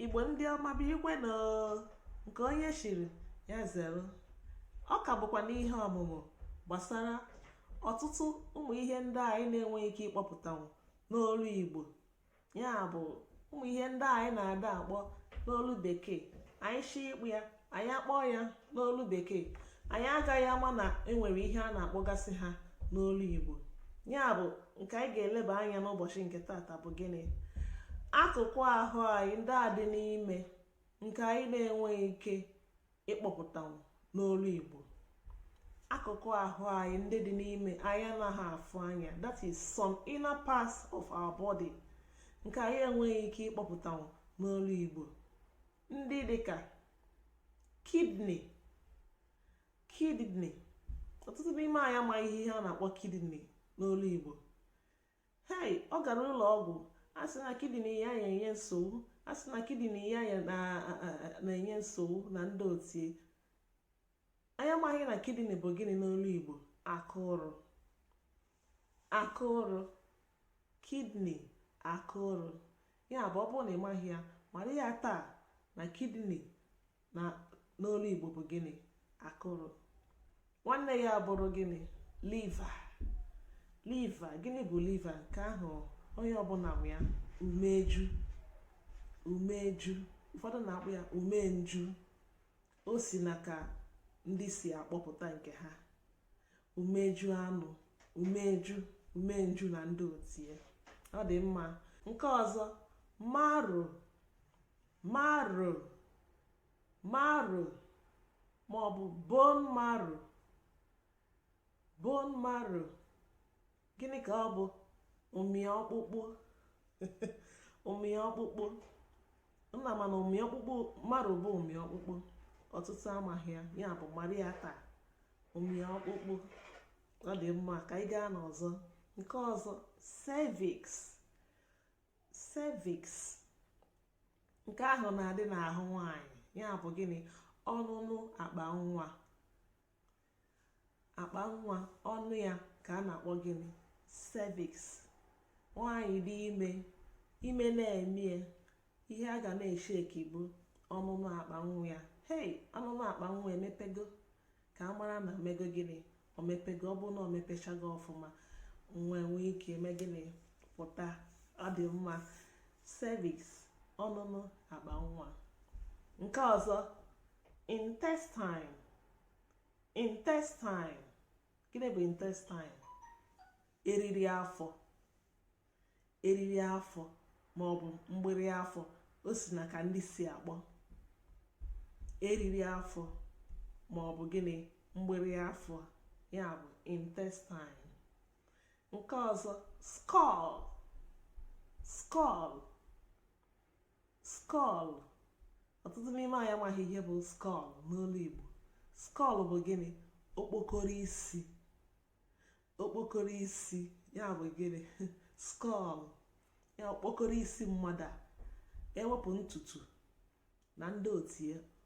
igbo ndị ọma bụ igwe na nke onye chiri ya zere ọ ka bụkwa n'ihe ọmụmụ gbasara ọtụtụ ụmụ ihe ndị anyị na-enweghị ike ịkpọpụtanwu n'olu igbo ya bụ ụmụ ihe ndị anyị na-ada akpọ n'olu bekee anyị shi ịkpọ ya anyị akpọọ ya n'olu bekee anyị agaghị ama na enwere ihe a na-akpọgasị ha n'olu igbo ya bụ nke anyị ga-eleba anya n'ụbọchị nke tata bụ gịnị akụkụ ahụ anyị ndị a dị n'ime nke anyị na-enweghị ike ịkpọpụtanwu n'olu igbo akụkụ ahụ anyị ndị dị n'ime anyị anaghị afụ anya that is some inner parts of our body nke anyị enweghị ike ịkpọpụtanwu n'olu igbo ndị dịka kidney kidney ọtụtụ n'ime anyị amaghị ihe ihe a na-akpọ kidney n'olu Igbo hei ọ gara ụlọ ọgwụ a sị na kidney ya na-enye nsogbu a sị na kidney ya ya na-enye nsogbu na ndị otie Anyị amaghị na kidney bụ gịnị n'olu Igbo akụrụ akụrụ kidney akụrụ ya bụ ọ bụrụ na ị maghị ya mara ya taa na kidney n'olu Igbo bụ gịnị akụrụ nwanne ya bụrụ gịnị liver liver gịnị bụ liver nke ahụ onye ọbụla ma ya umeju umeju ụfọdụ na-akpọ ya umenju o si na ka ndị si akpọpụta nke ha umeju anụ umeju umenju na ndị otie ọ dị mma nke ọzọ marrow marrow marrow ma ọ bụ bone marrow bone marrow gịnị ka ọ bụ ụmị ọkpụkpụ ụmị ọkpụkpụ nna mana ụmị ọkpụkpụ marrow bụ ụmị ọkpụkpụ ọtụtụ amaghị ya ya bụ mara ya taa ụmị ọkpụkpụ ọ dị mma ka anyị gaa n'ọzọ nke ọzọ cervix cervix nke ahụ na-adị n'ahụ nwanyị ya bụ gịnị ọnụnụ akpa nwa akpa nwa ọnụ ya ka a na-akpọ gịnị cervix nwaanyị dị ime ime na-eme ya ihe a ga na-esheki bụ ọnụnụ akpa nwa ya hei ọnụnụ akpa nwa emepego ka a mara na o mego gịnị o mepego ọ bụ na o mepechago ọfụma nwa nwee ike eme gịnị pụta ọ dị mma cervix ọnụnụ akpa nwa nke ọzọ intestine intestine gịnị bụ intestine eriri afọ eriri afọ ma ọ bụ mgbịrị afọ o si na ka ndị si akpọ eriri afọ ma ọ bụ gịnị mgbịrị afọ ya bụ intestine nke ọzọ skull skull skull ọtụtụ n'ime anyị amaghị ihe bụ skull n'olu Igbo skull bụ gịnị okpokoro isi okpokoro isi ya bụ gịnị skull ya okpokoro isi mmadụ a ewepụ ntutu na ndị otu ya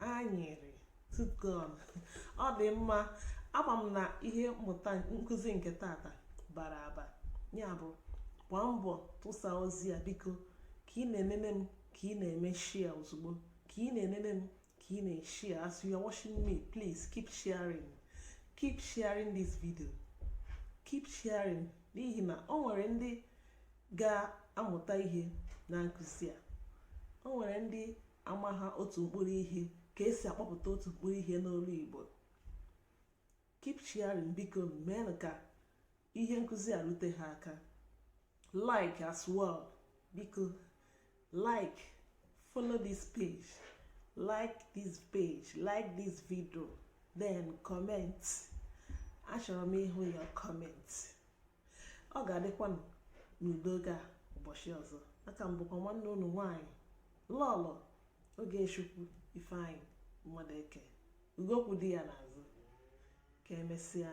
anyịrị tooth gum ọ dị mma ama m na ihe mmụta nkụzi nke tata bara aba ya bụ gbaa mbọ tụsa ozi a biko ka ị na-enene m ka ị na-eme share ozugbo ka ị na-enene m ka ị na-eshare as you are watching me please keep sharing keep sharing this video keep sharing n'ihi na o nwere ndị ga-amụta ihe na nkụzi a o nwere ndị amaha otu mkpụrụ ihe ka esi akpọpụta otu mkpụrụ ihe n'olu igbo keep sharing biko meenụ ka ihe nkụzi a rute ha aka like as well biko like follow this page like this page like this video then comment achọrọ m ịhụ your comment ọ ga-adịkwanụ n'udo gaa ụbọchị ọzọ aka m bụkwa nwanne unu nwaanyị lọlọ Ogechukwu Ifeanyị Mmadụeke ugo kwụ di ya n'azụ ka emesịa